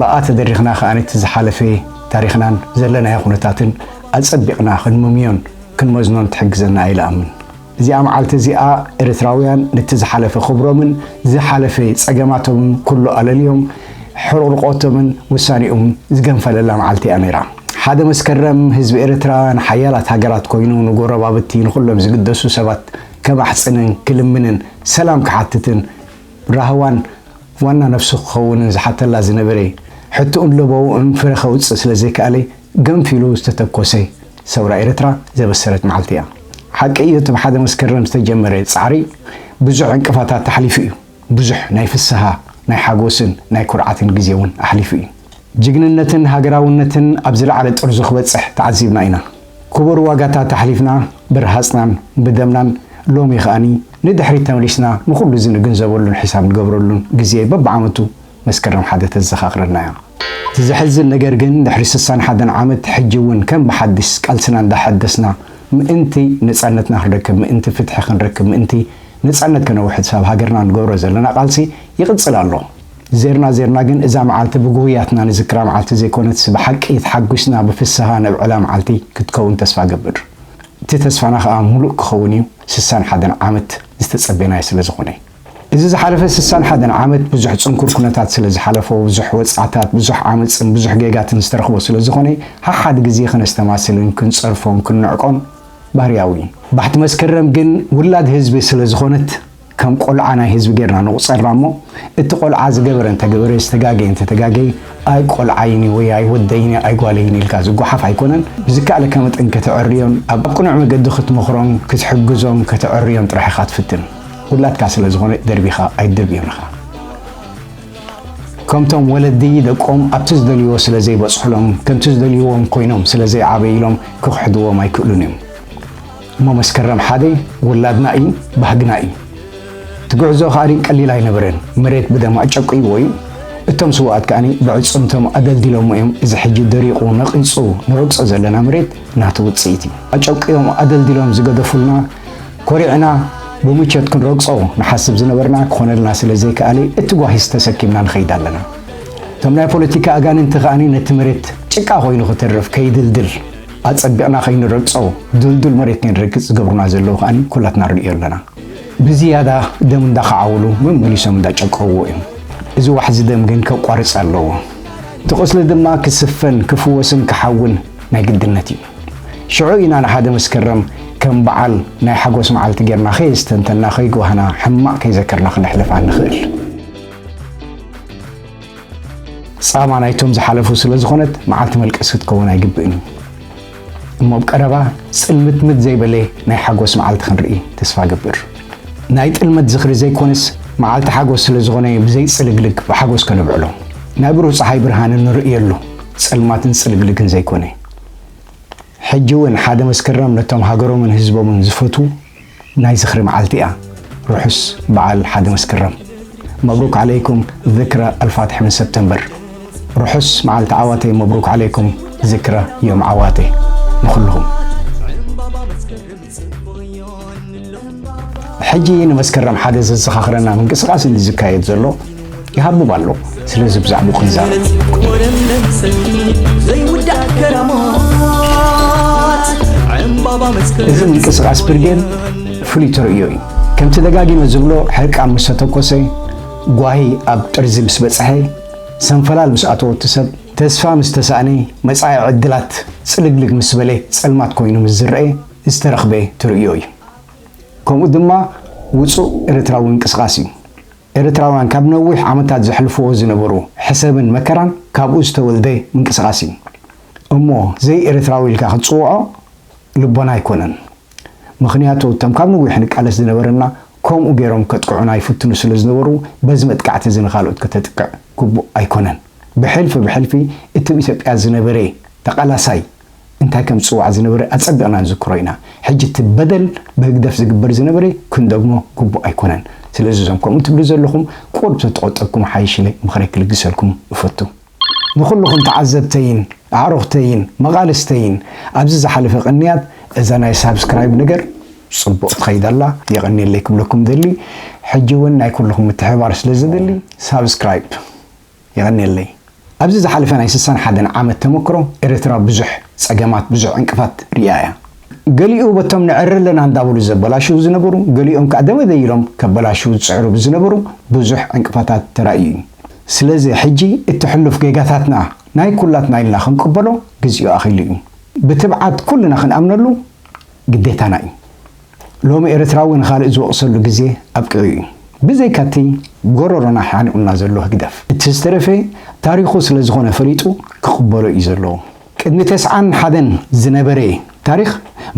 ብኣ ተደሪኽና ከኣ ነቲ ዝሓለፈ ታሪኽናን ዘለናዮ ኩነታትን ኣጸቢቕና ክንምምዮን ክንመዝኖን ትሕግዘና ኢለ እኣምን። እዚኣ መዓልቲ እዚኣ ኤርትራውያን ነቲ ዝሓለፈ ክብሮምን ዝሓለፈ ጸገማቶምን ኩሉ ኣለልዮም ሕርቑርቖቶምን ውሳኔኡምን ዝገንፈለላ መዓልቲ እያ ነይራ። ሓደ መስከረም ህዝቢ ኤርትራ ንሓያላት ሃገራት ኮይኑ ንጎረባብቲ ንኹሎም ዝግደሱ ሰባት ከማሕጽንን ክልምንን ሰላም ክሓትትን ራህዋን ዋና ነብሱ ክኸውንን ዝሓተላ ዝነበረ ሕቶኡን ለበውኡን ፍረ ከውጽእ ስለ ዘይከኣለ ገንፊሉ ዝተተኮሰ ሰውራ ኤርትራ ዘበሰረት መዓልቲ እያ። ሓቂ እዩ እቲ ብ ሓደ መስከረም ዝተጀመረ ጻዕሪ ብዙሕ ዕንቅፋታት ኣሕሊፉ እዩ። ብዙሕ ናይ ፍስሃ፣ ናይ ሓጎስን ናይ ኩርዓትን ግዜ እውን ኣሕሊፉ እዩ። ጅግንነትን ሃገራውነትን ኣብ ዝለዓለ ጥርዙ ክበጽሕ ተዓዚብና ኢና። ክቡር ዋጋታት ኣሕሊፍና ብረሃጽናን ብደምናን ሎሚ ከኣ ንድሕሪት ተመሊስና ንኹሉ እዚ ንግንዘበሉን ሒሳብ ንገብረሉን ግዜ በብዓመቱ መስከረም ሓደ ተዘኻኽረና እያ። እቲ ዘሕዝን ነገር ግን ድሕሪ ስሳን ሓደን ዓመት ሕጂ እውን ከም ብሓድሽ ቃልስና እንዳሐደስና ምእንቲ ነጻነትና ክንረክብ ምእንቲ ፍትሒ ክንረክብ ምእንቲ ነጻነት ከነውሕስ ኣብ ሃገርና ንገብሮ ዘለና ቃልሲ ይቕጽል ኣሎ። ዜርና ዜርና ግን እዛ መዓልቲ ብጉሁያትና ንዝክራ መዓልቲ ዘይኮነትስ ብሓቂ ተሓጉስና ብፍስሃ ነብዕላ መዓልቲ ክትከውን ተስፋ እገብር እቲ ተስፋና ከኣ ሙሉእ ክኸውን እዩ ስሳን ሓደን ዓመት ዝተጸቤናዮ ስለ ዝኾነ እዩ እዚ ዝሓለፈ ስሳን ሓደን ዓመት ብዙሕ ጽንኩር ኩነታት ስለ ዝሓለፎ ብዙሕ ወጽዓታት ብዙሕ ዓመጽን ብዙሕ ጌጋትን ዝተረኽቦ ስለ ዝኾነ ሓሓድ ግዜ ከነስተማስልን ክንጸርፎን ክንንዕቆን ባህርያዊ እዩ ባሕቲ መስከረም ግን ውላድ ህዝቢ ስለ ዝኾነት ከም ቆልዓ ናይ ህዝቢ ጌርና ንቑጸራ እሞ እቲ ቆልዓ ዝገበረ እንተገበረ ዝተጋገየ እንተተጋገየ ኣይ ቆልዓይን'ዩ ወይ ኣይ ወደይን'ዩ ኣይ ጓለይን ኢልካ ዝጓሓፍ ኣይኮነን ብዝከኣለካ መጠን ከተዐርዮን ኣብ ቅኑዕ መገዲ ክትመኽሮን ክትሕግዞን ከተዐርዮን ጥራሕ ኢኻ ትፍትን ውላድካ ስለ ዝኾነ ደርቢኻ ኣይትደብዮን ኢኻ ከምቶም ወለዲ ደቆም ኣብቲ ዝደልይዎ ስለ ዘይበጽሑሎም ከምቲ ዝደልይዎም ኮይኖም ስለ ዘይዓበይሎም ክኽሕድዎም ኣይክእሉን እዮም። እሞ መስከረም ሓደ ውላድና እዩ ባህግና እዩ እቲ ጉዕዞ ከኣ ቀሊል ኣይነበረን መሬት ብደም ኣጨቅይዎ እዩ እቶም ስውኣት ከኣ ብዕጽምቶም ኣደልዲሎሞ እዮም እዚ ሕጂ ደሪቁ ነቂጹ ንረግጾ ዘለና መሬት ናቱ ውጽኢት እዩ ኣጨቅዮም ኣደልዲሎም ዝገደፉልና ኮሪዕና ብምቾት ክንረግጾ ንሓስብ ዝነበርና ክኾነልና ስለ ዘይከኣለ እቲ ጓሂስ ተሰኪምና ንኸይድ ኣለና እቶም ናይ ፖለቲካ ኣጋንንቲ ከኣ ነቲ መሬት ጭቃ ኮይኑ ክተርፍ ከይድልድል ኣጸቢቕና ከይንረግጾ ድልዱል መሬት ከይንረግጽ ዝገብሩና ዘለዉ ከኣ ኩላትና ንርእዮ ኣለና። ብዝያዳ ደም እንዳኸዓውሉ መመሊሶም እንዳጨቀውዎ እዮም። እዚ ዋሕዚ ደም ግን ከቋርጽ ኣለዎ። እቲ ቁስሊ ድማ ክስፈን ክፍወስን ክሓውን ናይ ግድነት እዩ። ሽዑ ኢና ንሓደ መስከረም ከም በዓል ናይ ሓጎስ መዓልቲ ጌርና ከየስተንተና ከይጓህና ሕማቕ ከይዘከርና ክነሕልፋ ንኽእል። ጻማ ናይቶም ዝሓለፉ ስለ ዝኾነት መዓልቲ መልቀስ ክትከውን ኣይግብእን እዩ እሞ ኣብ ቀረባ ጽልምትምት ዘይበለ ናይ ሓጎስ መዓልቲ ክንርኢ ተስፋ እገብር ናይ ጥልመት ዝኽሪ ዘይኮነስ መዓልቲ ሓጎስ ስለ ዝኾነ ብዘይጽልግልግ ብሓጎስ ከነብዕሎ ናይ ብሩህ ፀሓይ ብርሃን እንርእየሉ ጸልማትን ጽልግልግን ዘይኮነ ሕጂ እውን ሓደ መስከረም ነቶም ሃገሮምን ህዝቦምን ዝፈትዉ ናይ ዝኽሪ መዓልቲ እያ ርሑስ በዓል ሓደ መስከረም። መብሩክ ዓለይኩም ዝክረ ኣልፋትሒ ምን ሰፕተምበር ርሑስ መዓልቲ ዓዋተ መብሩክ ዓለይኩም ዝክረ ዮም ዓዋተ ንኹልኹም። ሕጂ ንመስከረም ሓደ ዘዘኻኽረና ምንቅስቓስ እንዲ ዝካየድ ዘሎ፣ ይሃብብ ኣሎ ስለዚ ብዛዕባ ክንዛረብ እዚ ምንቅስቃስ ብርጌድ ፍሉይ ተርእዮ እዩ ከምቲ ደጋጊመ ዝብሎ ሕርቃ ምስ ተተኮሰ ጓሂ ኣብ ጥርዚ ምስ በፅሐ ሰንፈላል ምስ ኣተወቲ ሰብ ተስፋ ምስ ተሳእነ መፃኢ ዕድላት ፅልግልግ ምስ በለ ፀልማት ኮይኑ ምስ ዝረአ ዝተረኽበ ተርእዮ እዩ ከምኡ ድማ ውፁእ ኤርትራዊ ምንቅስቃስ እዩ ኤርትራውያን ካብ ነዊሕ ዓመታት ዘሕልፍዎ ዝነበሩ ሕሰምን መከራን ካብኡ ዝተወልደ ምንቅስቃስ እዩ እሞ ዘይ ኤርትራዊ ኢልካ ክትጽውዖ ልቦና ኣይኮነን ምኽንያቱ እቶም ካብ ንዊሕ ንቃለስ ዝነበርና ኮምኡ ጌሮም ከጥቅዑና ይፍትኑ ስለ ዝነበሩ በዚ መጥቃዕቲ እዚ ንኻልኦት ከተጥቅዕ ግቡእ ኣይኮነን ብሕልፊ ብሕልፊ እትብ ኢትዮጵያ ዝነበረ ተቃላሳይ እንታይ ከም ዝጽዋዕ ዝነበረ ኣጸቢቕና ንዝክሮ ኢና። ሕጂ እቲ በደል ብህግደፍ ዝግበር ዝነበረ ክንደግሞ ግቡእ ኣይኮነን። ስለዚ እዞም ከምኡ ትብሉ ዘለኹም ቁሩብ ተተቖጠብኩም ይሓይሽ ኢለ ምኽረይ ክልግሰልኩም እፈቱ። ንኹሉኹም ተዓዘብተይን ኣዕሩኽተይን መቓልስተይን ኣብዚ ዝሓለፈ ቅንያት እዛ ናይ ሳብስክራይብ ነገር ጽቡቕ ትኸይድ ኣላ የቐንየለይ ክብለኩም እደሊ። ሕጂ እውን ናይ ኩሉኹም ምትሕብባር ስለ ዘድሊ ሳብስክራይብ። የቐንየለይ ኣብዚ ዝሓለፈ ናይ ስሳን ሓደን ዓመት ተመክሮ ኤረትራ ብዙሕ ጸገማት ብዙሕ ዕንቅፋት ሪኢያ እያ ገሊኡ በቶም ንዕሪ ኣለና እንዳበሉ ዘበላሽዉ ዝነበሩ ገሊኦም ከኣ ደበበ ኢሎም ከበላሽዉ ዝጽዕሩ ብዝነበሩ ብዙሕ ዕንቅፋታት ተራእዩ እዩ ስለዚ ሕጂ እቲ ሕሉፍ ጌጋታትና ናይ ኩላትና ኢልና ክንቅበሎ ግዚኡ ኣኺሉ እዩ ብትብዓት ኩልና ክንኣምነሉ ግዴታና እዩ። ሎሚ ኤርትራዊ ንኻልእ ዝወቕሰሉ ግዜ ኣብቂዑ እዩ። ብዘይካቲ ጎሮሮና ሓኒቑና ዘሎ ህግደፍ፣ እቲ ዝተረፈ ታሪኹ ስለዝኾነ ፈሊጡ ክቕበሎ እዩ ዘለዎ። ቅድሚ ተስዓን ሓደን ዝነበረ ታሪኽ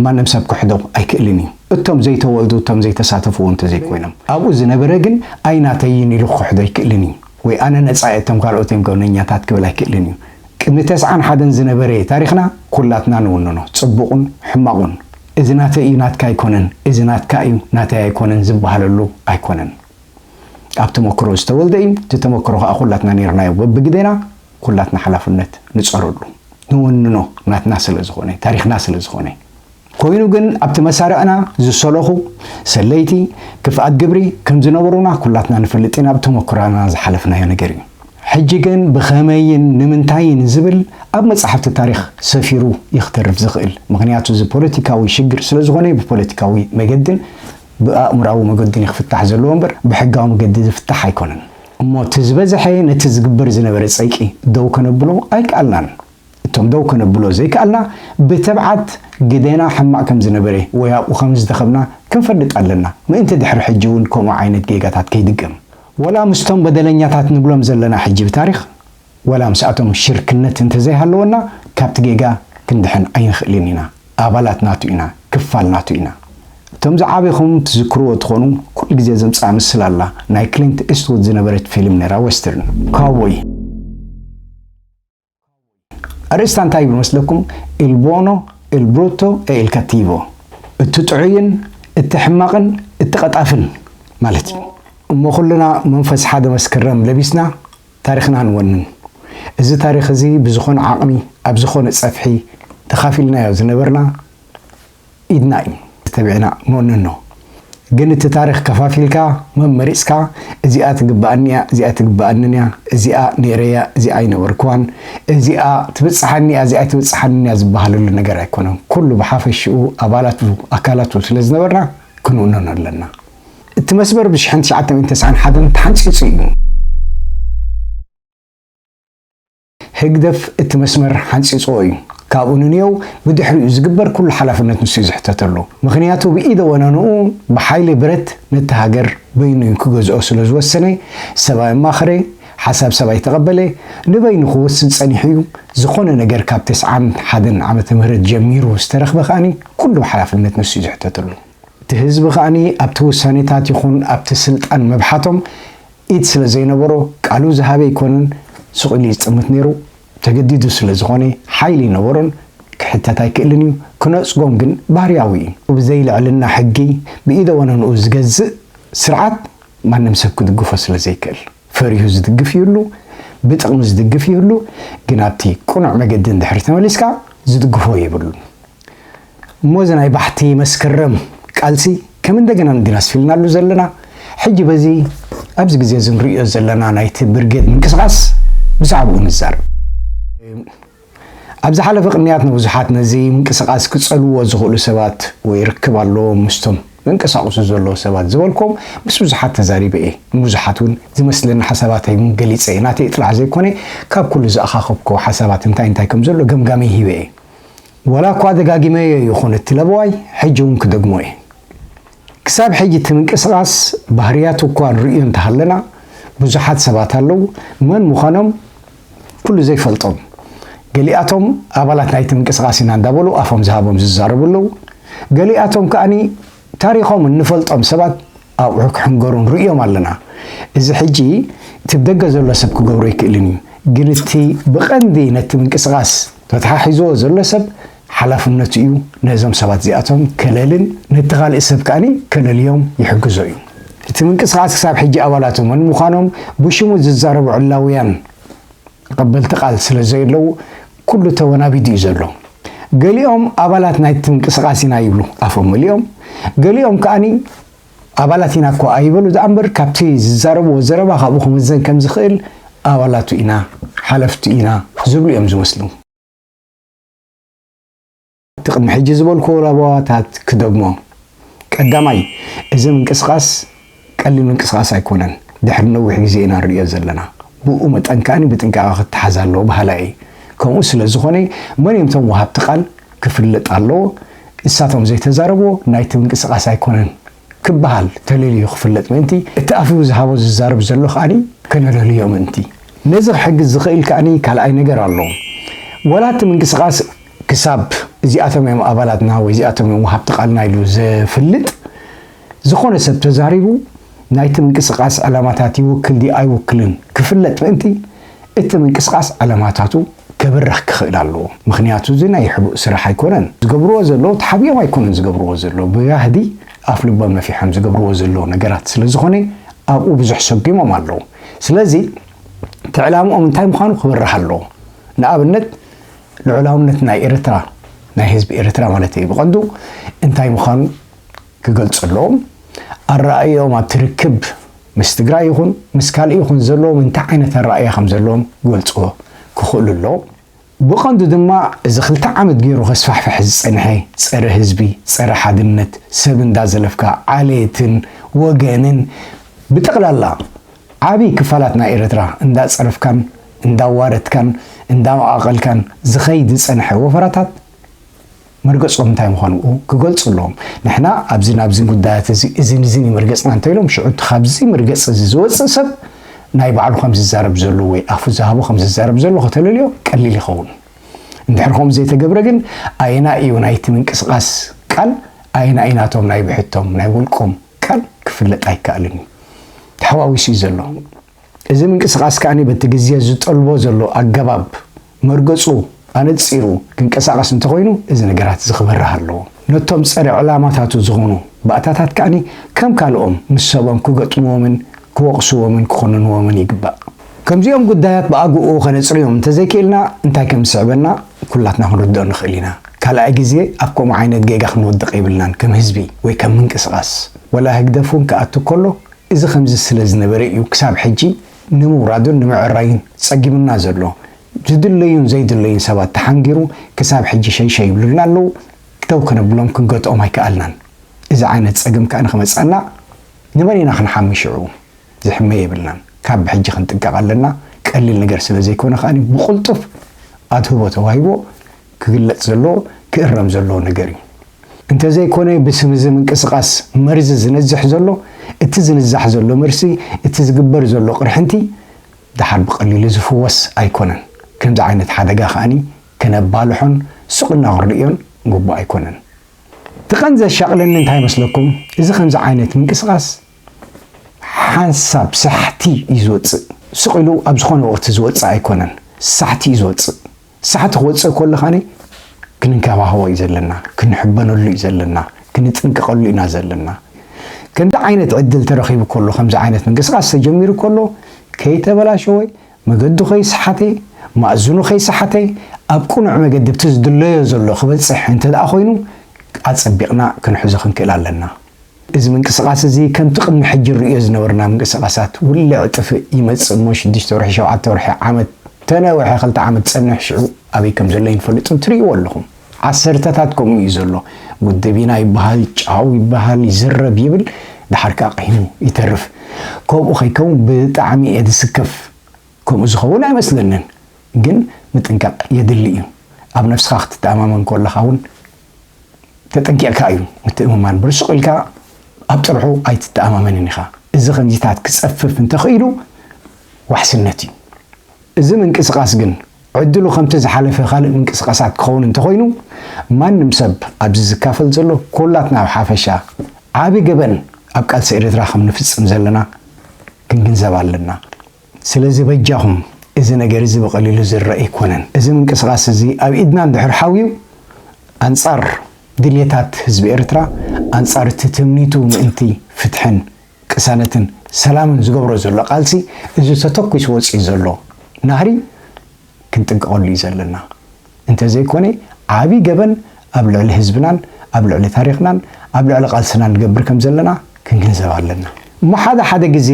ማንም ሰብ ክሕዶ ኣይክእልን እዩ። እቶም ዘይተወልዱ እቶም ዘይተሳተፍዎ እንተዘይኮይኖም። ኣብኡ ዝነበረ ግን ኣይናተይን ኢሉ ክኽሕዶ ኣይክእልን እዩ። ወይ ኣነ ነጻ እየ እቶም ካልኦት እዮም ገበነኛታት ክብል ኣይክእልን እዩ። ቅድሚ ተስዓን ሓደን ዝነበረ ታሪኽና ኩላትና ንውንኖ፣ ጽቡቑን ሕማቑን። እዚ ናተይ እዩ ናትካ ኣይኮነን፣ እዚ ናትካ እዩ ናተይ ኣይኮነን ዝበሃለሉ ኣይኮነን። ኣብ ተመክሮ ዝተወልደ እዩ፣ እቲ ተመክሮ ከኣ ኩላትና ኔርናዮ በብግደና፣ ኩላትና ሓላፍነት ንጸረሉ፣ ንወንኖ ናትና ስለዝኾነ፣ ታሪኽና ስለዝኾነ። ኮይኑ ግን ኣብቲ መሳርዕና ዝሰለኹ ሰለይቲ ክፍኣት ግብሪ ከም ዝነበሩና ኩላትና ንፈልጥ ኢና ብተመኩራና ዝሓለፍናዮ ነገር እዩ። ሕጂ ግን ብኸመይን ንምንታይን ዝብል ኣብ መጻሕፍቲ ታሪኽ ሰፊሩ እዩ ክተርፍ ዝኽእል ምኽንያቱ እዚ ፖለቲካዊ ሽግር ስለ ዝኾነ ብፖለቲካዊ መገድን ብኣእምራዊ መገዱን እዩ ክፍታሕ ዘለዎ እምበር ብሕጋዊ መገዲ ዝፍታሕ ኣይኮነን። እሞ እቲ ዝበዘሐ ነቲ ዝግበር ዝነበረ ጸይቂ ደው ከነብሎ ኣይከኣልናን። እቶም ደው ከነብሎ ዘይከኣልና ብትብዓት ግደና ሕማቕ ከም ዝነበረ ወይ ኣብኡ ከም ዝተኸብና ክንፈልጥ ኣለና፣ ምእንቲ ድሕሪ ሕጂ እውን ከምኡ ዓይነት ጌጋታት ከይድገም። ወላ ምስቶም በደለኛታት ንብሎም ዘለና ሕጂ ብታሪኽ ወላ ምስኣቶም ሽርክነት እንተ ዘይሃለወና ካብቲ ጌጋ ክንድሕን ኣይንኽእልን ኢና። ኣባላት ናቱ ኢና፣ ክፋል ናቱ ኢና። እቶም ዝዓበኹም ትዝክርዎ ትኾኑ ኩሉ ግዜ ዘምጽኣ ምስላ ኣላ፣ ናይ ክሊንት ኢስትዉድ ዝነበረት ፊልም ነይራ ወስተርን ካውቦይ። ኣርእስታ እንታይ እዩ ብመስለኩም? ኢል ቦኖ፣ ኢል ብሩቶ ኤ ኢል ካቲቮ፣ እቲ ጥዑይን እቲ ሕማቕን እቲ ቐጣፍን ማለት እዩ። እሞ ኩልና መንፈስ ሓደ መስከረም ለቢስና ታሪኽና ንወንን። እዚ ታሪኽ እዚ ብዝኾነ ዓቕሚ ኣብ ዝኾነ ፀፍሒ ተኻፊልናዮ ዝነበርና፣ ኢድና እዩ ተቢዕና ንወንኖ ግን እቲ ታሪኽ ከፋፊልካ መመሪጽካ እዚኣ ትግብኣኒ እያ እዚኣ ኣይትግብኣንን እያ እዚኣ ነይረያ እዚኣ ኣይነበርክዋን እዚኣ ትብጽሓኒ እያ እዚኣ ኣይትብጽሓንን እያ ዝበሃለሉ ነገር ኣይኮነን ኩሉ ብሓፈሽኡ ኣባላቱ ኣካላቱ ስለ ዝነበርና ክንውንኖ ኣለና እቲ መስመር ብ ሽሕን ትሽዓተ ሚእትን ተስዓን ሓደን ተሓንጺጹ እዩ። ህግደፍ እቲ መስመር ሓንጺጽዎ እዩ። ካብኡ ንንየው ብድሕሪኡ ዝግበር ኩሉ ሓላፍነት ንሱ እዩ ዝሕተተሉ። ምኽንያቱ ብኢደ ወነንኡ ብሓይሊ ብረት ነቲ ሃገር በይኑ እዩ ክገዝኦ ስለ ዝወሰነ፣ ሰብ ኣየማኸረ፣ ሓሳብ ሰብ ኣይተቐበለ፣ ንበይኑ ክወስን ጸኒሑ እዩ። ዝኾነ ነገር ካብ ተስዓን ሓደን ዓመተ ምህረት ጀሚሩ ዝተረኽበ ከኣ ኩሉ ሓላፍነት ንሱ እዩ ዝሕተተሉ። እቲ ህዝቢ ከኣ ኣብቲ ውሳኔታት ይኹን ኣብቲ ስልጣን ምብሓቶም፣ ኢድ ስለ ዘይነበሮ ቃሉ ዝሃበ ኣይኮነን ሱቕ ኢሉ ይጽምት ነይሩ፣ ተገዲዱ ስለ ዝኾነ ሓይሊ ኣይነበሮን ክሕተት ኣይክእልን እዩ፣ ክነጽጎም ግን ባህርያዊ እዩ። ብዘይ ልዕልና ሕጊ ብኢደ ወነንኡ ዝገዝእ ስርዓት ማንም ሰብ ክድግፎ ስለ ዘይክእል ፈሪሁ ዝድግፍ ይህሉ ብጥቕሚ ዝድግፍ ይህሉ ግን ኣብቲ ቅኑዕ መገዲ እንድሕሪ ተመሊስካ ዝድግፎ የብሉን። እሞ እዚ ናይ ባሕቲ መስከረም ቃልሲ ከም እንደገና ንድና ኣስፊልናሉ ዘለና ሕጂ በዚ ኣብዚ ግዜ እዚ ንርእዮ ዘለና ናይቲ ብርጌድ ምንቅስቓስ ብዛዕብኡ ንዛረብ። ኣብ ዝሓለፈ ቅንያት ንብዙሓት ነዚ ምንቅስቓስ ክጸልውዎ ዝኽእሉ ሰባት ወይ ርክብ ኣለዎም ምስቶም ዘንቀሳቕሱ ዘለዉ ሰባት ዝበልክዎም ምስ ብዙሓት ተዛሪበ እየ። ንብዙሓት እውን ዝመስለኒ ሓሳባተይ እውን ገሊጸ እየ። ናተይ ጥራሕ ዘይኮነ ካብ ኩሉ ዝኣኻኸብክዎ ሓሳባት እንታይ እንታይ ከም ዘሎ ገምጋመይ ሂበ እየ። ዋላ እኳ ደጋጊመዮ ይኹን እቲ ለበዋይ ሕጂ እውን ክደግሞ እየ። ክሳብ ሕጂ እቲ ምንቅስቓስ ባህርያቱ እኳ ንርእዮ እንተሃለና ብዙሓት ሰባት ኣለዉ መን ምዃኖም ኩሉ ዘይፈልጦም ገሊኣቶም ኣባላት ናይቲ ምንቅስቓስ ኢና እንዳበሉ ኣፎም ዝሃቦም ዝዛረቡ ኣለዉ ገሊኣቶም ከኣ ታሪኾም እንፈልጦም ሰባት ኣብዑ ክሕንገሩ ንርእዮም ኣለና። እዚ ሕጂ እቲ ብደገ ዘሎ ሰብ ክገብሮ ኣይክእልን እዩ። ግን እቲ ብቐንዲ ነቲ ምንቅስቓስ ተተሓሒዝዎ ዘሎ ሰብ ሓላፍነቱ እዩ ነዞም ሰባት እዚኣቶም ከለልን ነቲ ካልእ ሰብ ከኣ ከለልዮም ይሕግዞ እዩ። እቲ ምንቅስቓስ ክሳብ ሕጂ ኣባላቱ መን ምዃኖም ብሽሙ ዝዛረቡ ዕላውያን ተቐበልቲ ቃል ስለዘየለዉ፣ ኩሉ ተወናቢዱ እዩ ዘሎ። ገሊኦም ኣባላት ናይቲ ምንቅስቓስ ኢና ይብሉ ኣፎም መሊኦም፣ ገሊኦም ከኣ ኣባላት ኢና እኳ ኣይበሉ ደኣ እምበር ካብቲ ዝዛረብዎ ዘረባ ካብኡ ክምዘን ከም ዝኽእል ኣባላቱ ኢና፣ ሓለፍቱ ኢና ዝብሉ እዮም ዝመስሉ። እቲ ቅድሚ ሕጂ ዝበልኩዎ ለበዋታት ክደግሞ። ቀዳማይ፣ እዚ ምንቅስቓስ ቀሊል ምንቅስቓስ ኣይኮነን፣ ድሕሪ ነዊሕ ግዜ ኢና ንርእዮ ዘለና። ብእኡ መጠን ከኣ ብጥንቃቐ ክተሓዝ ኣለዎ በሃላይ እየ። ከምኡ ስለ ዝኾነ፣ መን እዮም እቶም ወሃብቲ ቃል ክፍለጥ ኣለዎ፣ ንሳቶም ዘይተዛረብዎ ናይቲ ምንቅስቓስ ኣይኮነን። ክበሃል ተለልዩ ክፍለጥ ምእንቲ፣ እቲ ኣፉ ዝሃቦ ዝዛረብ ዘሎ ከኣ ከነለልዮ ምእንቲ። ነዚ ክሕግዝ ዝኽእል ከኣ ካልኣይ ነገር ኣሎ። ዋላ እቲ ምንቅስቓስ ክሳብ እዚኣቶም እዮም ኣባላትና ወይ እዚኣቶም እዮም ወሃብቲ ቃልና ኢሉ ዘፍልጥ ዝኾነ ሰብ ተዛሪቡ ናይቲ ምንቅስቓስ ዕላማታት ይውክል ድዩ ኣይውክልን ክፍለጥ ምእንቲ፣ እቲ ምንቅስቓስ ዕለማታቱ ከብርህ ክኽእል ኣለዎ ምኽንያቱ እዚ ናይ ሕቡእ ስራሕ ኣይኮነን ዝገብርዎ ዘለዉ ተሓቢኦም ኣይኮኑን ዝገብርዎ ዘለዉ ብጋህዲ ኣፍ ልቦም ነፊሖም ዝገብርዎ ዘለዉ ነገራት ስለ ዝኾነ ኣብኡ ብዙሕ ሰጉሞም ኣለዉ ስለዚ እቲ ዕላምኦም እንታይ ምዃኑ ክብርህ ኣለዎ ንኣብነት ልዑላውነት ናይ ኤርትራ ናይ ህዝቢ ኤርትራ ማለተይ ብቐንዱ እንታይ ምዃኑ ክገልፅሎም ኣረኣእየኦም ኣብቲ ርክብ ምስ ትግራይ ይኹን ምስ ካልእ ይኹን ዘለዎም እንታይ ዓይነት ኣረኣእያ ከም ዘለዎም ክገልፁዎ ክኽእሉ ኣለዎም። ብቐንዱ ድማ እዚ ክልተ ዓመት ገይሩ ከስፋሕፍሕ ዝፀንሐ ፀረ ህዝቢ፣ ፀረ ሓድነት፣ ሰብ እንዳዘለፍካ ዓሌትን ወገንን ብጠቕላላ ዓብይ ክፋላት ናይ ኤርትራ እንዳፀረፍካን እንዳዋረድካን እንዳመቓቐልካን ዝኸይድ ዝፀንሐ ወፈራታት መርገጾም እንታይ ምዃኑ እውን ክገልጹ ኣለዎም። ንሕና ኣብዚን ኣብዚን ጉዳያት እዚ እዚን እዚን እዩ መርገጽና እንተ ኢሎም፣ ሽዑ እቲ ካብዚ መርገጺ እዚ ዝወጽእ ሰብ ናይ ባዕሉ ከም ዝዛረብ ዘሎ ወይ ኣፉ ዝሃቦ ከም ዝዛረብ ዘሎ ከተለልዮ ቀሊል ይኸውን። እንድሕር ከምኡ ዘይተገብረ ግን ኣየናይ እዩ ናይቲ ምንቅስቓስ ቃል ኣየናይ እዩ ናቶም ናይ ብሕቶም ናይ ውልቆም ቃል ክፍለጥ ኣይከኣልን እዩ። ተሓዋዊሱ እዩ ዘሎ። እዚ ምንቅስቓስ ከኣ በቲ ግዜ ዝጠልቦ ዘሎ ኣገባብ መርገጹ ኣነጺሩ ክንቀሳቐስ እንተኾይኑ እዚ ነገራት እዚ ክበርህ ኣለዎ። ነቶም ጸረ ዕላማታቱ ዝኾኑ ባእታታት ከኣ ከም ካልኦም ምስ ሰቦም ክገጥምዎምን ክወቕስዎምን ክኹንንዎምን ይግባእ። ከምዚኦም ጉዳያት ብኣግኡ ከነጽርዮም እንተዘይክኢልና እንታይ ከም ዝስዕበና ኩላትና ክንርድኦ ንኽእል ኢና። ካልኣይ ግዜ ኣብ ከምኡ ዓይነት ጌጋ ክንወድቕ የብልናን ከም ህዝቢ ወይ ከም ምንቅስቓስ። ወላ ህግደፍ እውን ክኣቱ ከሎ እዚ ከምዚ ስለ ዝነበረ እዩ ክሳብ ሕጂ ንምውራዱን ንምዕራዩን ጸጊሙና ዘሎ። ዝድለዩን ዘይድለዩን ሰባት ተሓንጊሩ ክሳብ ሕጂ ሸይሸይ ይብሉልና ኣለዉ፣ ደው ከነብሎም ክንገትኦም ኣይከኣልናን። እዚ ዓይነት ጸገም ከኣ ንክመጽኣና ንመን ኢና ክንሓሚ ሽዑ? ዝሕመ የብልናን። ካብ ብሕጂ ክንጥንቀቕ ኣለና፣ ቀሊል ነገር ስለ ዘይኮነ ከኣ ብቕልጡፍ ኣድህቦ ተዋሂብዎ፣ ክግለጽ ዘለዎ ክእረም ዘለዎ ነገር እዩ። እንተዘይኮነ ብስም እዚ ምንቅስቃስ መርዚ ዝነዝሕ ዘሎ እቲ ዝንዛሕ ዘሎ መርሲ እቲ ዝግበር ዘሎ ቅርሕንቲ ደሓር ብቀሊሉ ዝፍወስ ኣይኮነን። ከምዚ ዓይነት ሓደጋ ከኣ ከነባልሖን ሱቅ እልና ክንርእዮን ግቡእ ኣይኮነን። እቲ ቀንዲ ዘሻቅለኒ እንታይ መስለኩም እዚ ከምዚ ዓይነት ምንቅስቃስ ሓንሳብ ሳሕቲ እዩ ዝወጽእ ሱቅ ኢሉ ኣብ ዝኮነ ወቅቲ ዝወጽእ ኣይኮነን ሳሕቲ እዩ ዝወጽእ። ሳሕቲ ክወጽእ ከሎ ኸኣ ክንንከባኸቦ እዩ ዘለና፣ ክንሕበነሉ እዩ ዘለና፣ ክንጥንቀቐሉ ኢና ዘለና። ከምዚ ዓይነት ዕድል ተረኺቡ ከሎ፣ ከምዚ ዓይነት ምንቅስቓስ ተጀሚሩ ከሎ፣ ከይተበላሸወ፣ መገዱ ከይሰሓተ፣ ማእዝኑ ከይሰሓተ፣ ኣብ ቅኑዕ መገዲ ኣብቲ ዝድለዮ ዘሎ ክበጽሕ እንተደኣ ኮይኑ ኣጸቢቕና ክንሕዞ ክንክእል ኣለና። እዚ ምንቅስቓስ እዚ ከምቲ ቅድሚ ሕጂ ንርእዮ ዝነበርና ምንቅስቓሳት ውልዕ ጥፍእ ይመጽእ እሞ ሽዱሽተ ወርሒ ሸውዓተ ወርሒ ዓመት ተነውሐ ክልተ ዓመት ጸንሕ ሽዑ ኣበይ ከም ዘሎ ኣይንፈልጥን ትርእይዎ ኣለኹም ዓሰርተታት ከምኡ እዩ ዘሎ ውድብ ኢና ይበሃል ጫው ይበሃል ይዝረብ ይብል ድሓር ከኣ ቀሂሙ ይተርፍ ከምኡ ከይከውን ብጣዕሚ እየ ዝስከፍ ከምኡ ዝኸውን ኣይመስለንን ግን ምጥንቃቕ የድሊ እዩ ኣብ ነፍስኻ ክትተኣማመን ኮለኻ እውን ተጠንቂቕካ እዩ ምትእምማን ብርሱቕ ኢልካ ኣብ ጥርሑ ኣይትተኣማመንን ኢኻ እዚ ከምዚታት ክጸፍፍ እንተኽኢሉ ዋሕስነት እዩ እዚ ምንቅስቓስ ግን ዕድሉ ከምቲ ዝሓለፈ ካልእ ምንቅስቓሳት ክኸውን እንተኾይኑ ማንም ሰብ ኣብዚ ዝካፈል ዘሎ ኮላትና ኣብ ሓፈሻ ዓቢ ገበን ኣብ ቃልሲ ኤርትራ ከም ንፍጽም ዘለና ክንግንዘብ ኣለና። ስለዚ በጃኹም እዚ ነገር እዚ ብቐሊሉ ዝርእ ኣይኮነን። እዚ ምንቅስቓስ እዚ ኣብ ኢድና እንድሕር ሓውዩ ኣንጻር ድልየታት ህዝቢ ኤርትራ፣ ኣንጻር እቲ ትምኒቱ ምእንቲ ፍትሕን ቅሳነትን ሰላምን ዝገብሮ ዘሎ ቃልሲ እዚ ተተኲሱ ወጺኡ ዘሎ ናህሪ ክንጥንቀቐሉ እዩ ዘለና። እንተዘይኮነ ዓቢ ገበን ኣብ ልዕሊ ህዝብናን ኣብ ልዕሊ ታሪኽናን ኣብ ልዕሊ ቃልስናን ንገብር ከምዘለና ክንግንዘብ ኣለና። እሞ ሓደ ሓደ ግዜ።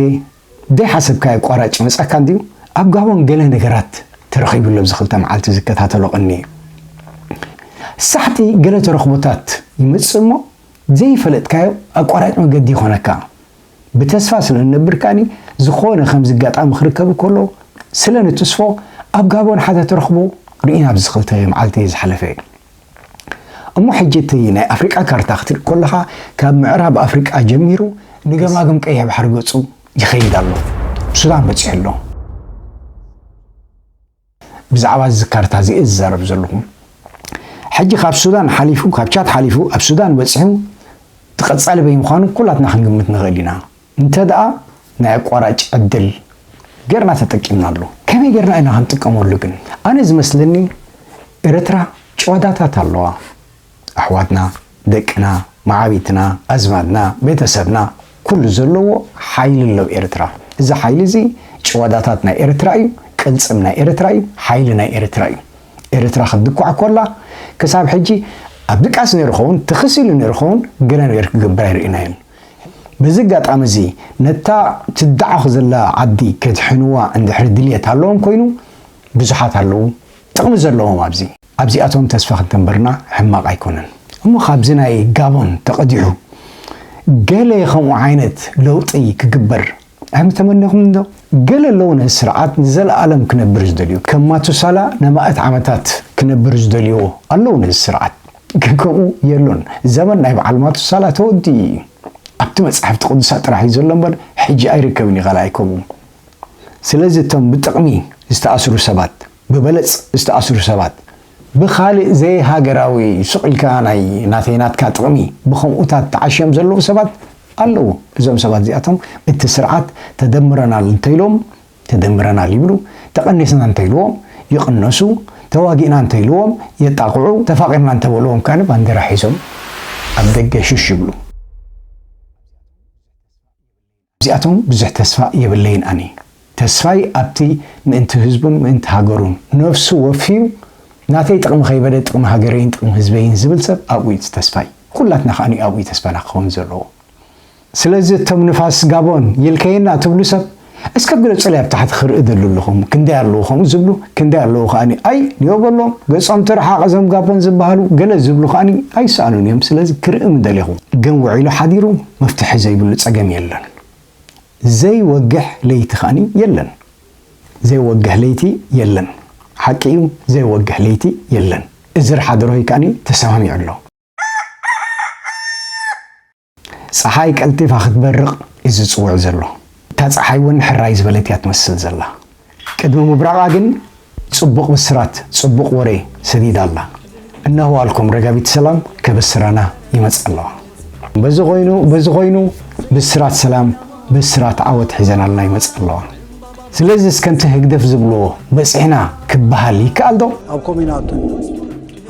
ደይሓሰብካዮ ቋራጭ ይመጻካ እንድዩ ኣብ ጋቦን ገለ ነገራት ተረኺቡ ኣሎ ኣብዚ ክልተ መዓልቲ ዝከታተሎ ቀንየ ሳሕቲ ገለ ተረኽቦታት ይመጽእ እሞ ዘይፈለጥካዮ ኣቋራጭ መገዲ ይኾነካ ብተስፋ ስለ ንነብር ከኣኒ ዝኾነ ከምዚ ኣጋጣሚ ክርከብ ከሎ ስለ ንትስፎ ኣብ ጋቦን ሓደ ተረኽቦ ርኢና ኣብዚ ክልተ መዓልቲ ዝሓለፈ እሞ ሕጂ እቲ ናይ ኣፍሪቃ ካርታ ክትርኢ ኮለኻ ካብ ምዕራብ ኣፍሪቃ ጀሚሩ ንገማግም ቀይሕ ባሕሪ ገጹ ይኸይድ ኣሎ ሱዳን በጺሑ ኣሎ። ብዛዕባ እዚ ካርታ እዚ እየ ዝዛረብ ዘለኹ። ሕጂ ካብ ሱዳን ሓሊፉ ካብ ቻድ ሓሊፉ ኣብ ሱዳን በጺሑ እቲ ቀጻሊ በይ ምዃኑ ኩላትና ክንግምት ንኽእል ኢና። እንተድኣ ናይ ኣቋራጭ ዕድል ጌርና ተጠቂምናሉ ከመይ ጌርና ኢና ክንጥቀመሉ ግን ኣነ ዝመስለኒ ኤረትራ ጭዋዳታት ኣለዋ ኣሕዋትና ደቅና ማዓቢትና ኣዝማድና ቤተሰብና ኩሉ ዘለዎ ሓይሊ ኣሎ ኤረትራ እዚ ሓይሊ እዚ ጭዋዳታት ናይ ኤረትራ እዩ ቅልጽም ናይ ኤረትራ እዩ ሓይሊ ናይ ኤረትራ እዩ ኤረትራ ክትድኳዕ ኮላ ክሳብ ሕጂ ኣብ ድቃስ ኔሩ ኸውን ትኽስ ኢሉ ኔሩ ኸውን ገለ ነገር ክግበር ኣይርኢናዮን በዚ ኣጋጣሚ እዚ ነታ ትደዓኽ ዘላ ዓዲ ከድሕንዋ እንድሕር ድልየት ኣለዎም ኮይኑ ብዙሓት ኣለዉ ጥቕሚ ዘለዎም ኣብዚ። ኣብዚኣቶም ተስፋ ክንተንብርና ሕማቕ ኣይኮነን። እሞ ካብዚ ናይ ጋቦን ተቐዲሑ ገለ ከምኡ ዓይነት ለውጢ ክግበር ኣም ተመነኹም እንዶ ገለ ኣለዉ ነዚ ስርዓት ንዘለኣለም ክነብር ዝደልዩ ከም ማቱሳላ ነማእት ዓመታት ክነብር ዝደልዩ ኣለዉ ነዚ ስርዓት ግን ከምኡ የሎን ዘመን ናይ በዓል ማቱሳላ ተወዲኡ እዩ ኣብቲ መጻሕፍቲ ቅዱሳት ጥራሕ እዩ ዘሎ እምበር ሕጂ ኣይርከብን እዩ ካልኣይ ከምኡ ስለዚ እቶም ብጥቕሚ ዝተኣስሩ ሰባት ብበለጽ ዝተኣስሩ ሰባት ብኻልእ ዘይሃገራዊ ስቕ ኢልካ ናይ ናተይ ናትካ ጥቕሚ ብኸምኡታት ተዓሽዮም ዘለዉ ሰባት ኣለዉ። እዞም ሰባት እዚኣቶም እቲ ስርዓት ተደምረናል እንተኢሎም ተደምረናል ይብሉ፣ ተቐኒስና እንተኢልዎ ይቕነሱ፣ ተዋጊእና እንተኢልዎም የጣቕዑ፣ ተፋቒርና እንተበልዎም ከኣ ባንዴራ ሒዞም ኣብ ደገ ሹሽ ይብሉ። ኣብዚኣቶም ብዙሕ ተስፋ የብለይን ኣነ ተስፋይ ኣብቲ ምእንቲ ህዝቡን ምእንቲ ሃገሩን ነብሱ ወፍዩ ናተይ ጥቅሚ ከይበለ ጥቅሚ ሃገረይን ጥቅሚ ህዝበይን ዝብል ሰብ ኣብኡ ዩ ተስፋይ ኩላትና ከኣ ኣብኡ ዩ ተስፋና ክከውን ዘለዎ ስለዚ እቶም ንፋስ ጋቦን ይልከየና ትብሉ ሰብ እስከ ግለጹለይ ኣብ ታሕቲ ክርኢ ደሉ ኣለኹም ክንደይ ኣለዉ ከምኡ ዝብሉ ክንደይ ኣለዉ ከኣ ኣይ ንዮ በሎም ገጾም ትርሓቕ እዞም ጋቦን ዝበሃሉ ገለ ዝብሉ ከኣ ኣይሰኣኑን እዮም ስለዚ ክርኢ ምደሌኹ ግን ውዒሉ ሓዲሩ መፍትሒ ዘይብሉ ጸገም የለን ዘይወግሕ ለይቲ ከኣኒ የለን ዘይወግሕ ለይቲ የለን ሓቂ እዩ ዘይወግሕ ለይቲ የለን እዝር ሓደሮይ ከኣኒ ተሰማሚዑ ኣሎ። ጸሓይ ቀልጢፋ ክትበርቕ እዩ ዝጽውዕ ዘሎ። እታ ጸሓይ እውን ሕራይ ዝበለት እያ ትመስል ዘላ። ቅድሚ ምብራቓ ግን ጽቡቕ ብስራት ጽቡቕ ወሬ ሰዲዳ ኣላ። እነሆ ኣልኩም ረጋቢት ሰላም ከብስራና ይመጽኣ ኣለዋ። በዚ ኮይኑ በዚ ኮይኑ ብስራት ሰላም ብስራት ዓወት ሒዘናልና ይመጽኣ ኣለዋ። ስለዚስ ከምቲ ህግደፍ ዝብልዎ በጺሕና ክበሃል ይከኣልዶ? ኣብ ኮሚና ኣቱና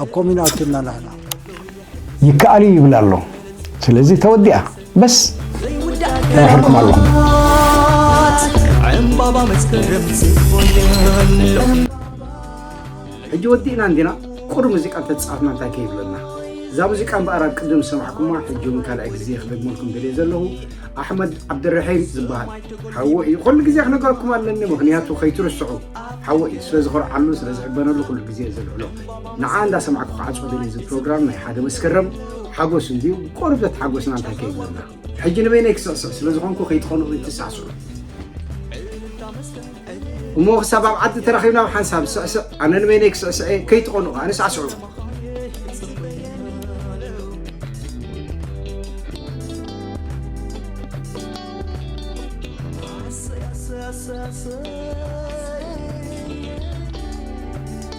ኣብ ኮሚና ኣቱና ናህና ይከኣል እዩ ይብል ኣሎ። ስለዚ ተወዲኣ። በስ ተራኺብኩም ኣለኹም ሕጂ ወዲእና እንዲና ቁር ሙዚቃ ተፃፍና እንታይ ከይብለና እዛ ሙዚቃ እምበኣር ኣብ ቅድም ዝሰማዕኩማ ሕጂ እውን ካልኣይ ግዜ ክደግመልኩም ደልየ ዘለኹ ኣሕመድ ዓብድርሒም ዝበሃል ሓወ እዩ ኩሉ ግዜ ክነገረኩም ኣለኒ ምክንያቱ ከይትርስዑ ሓወ እዩ ስለ ዝኮርዓሉ ስለ ዝሕበነሉ ኩሉ ግዜ ዘልዕሎ ንዓ እንዳ ሰማዕኩ ክዓጾ ደልየ እዚ ፕሮግራም ናይ ሓደ መስከረም ሓጎስ እንድዩ ቆርበት ሓጎስና እንታይ ከይብለና ሕጂ ንበይነይ ክስዕስዕ ስለ ዝኾንኩ ከይትኸንኡ ይትሳዕስዑ እሞ ክሳብ ኣብ ዓዲ ተራኺብና ኣብ ሓንሳብ ስዕስዕ ኣነ ንበይነይ ክስዕስዕ እየ ከይትኾኑ ከዓ ንሳዕስዑ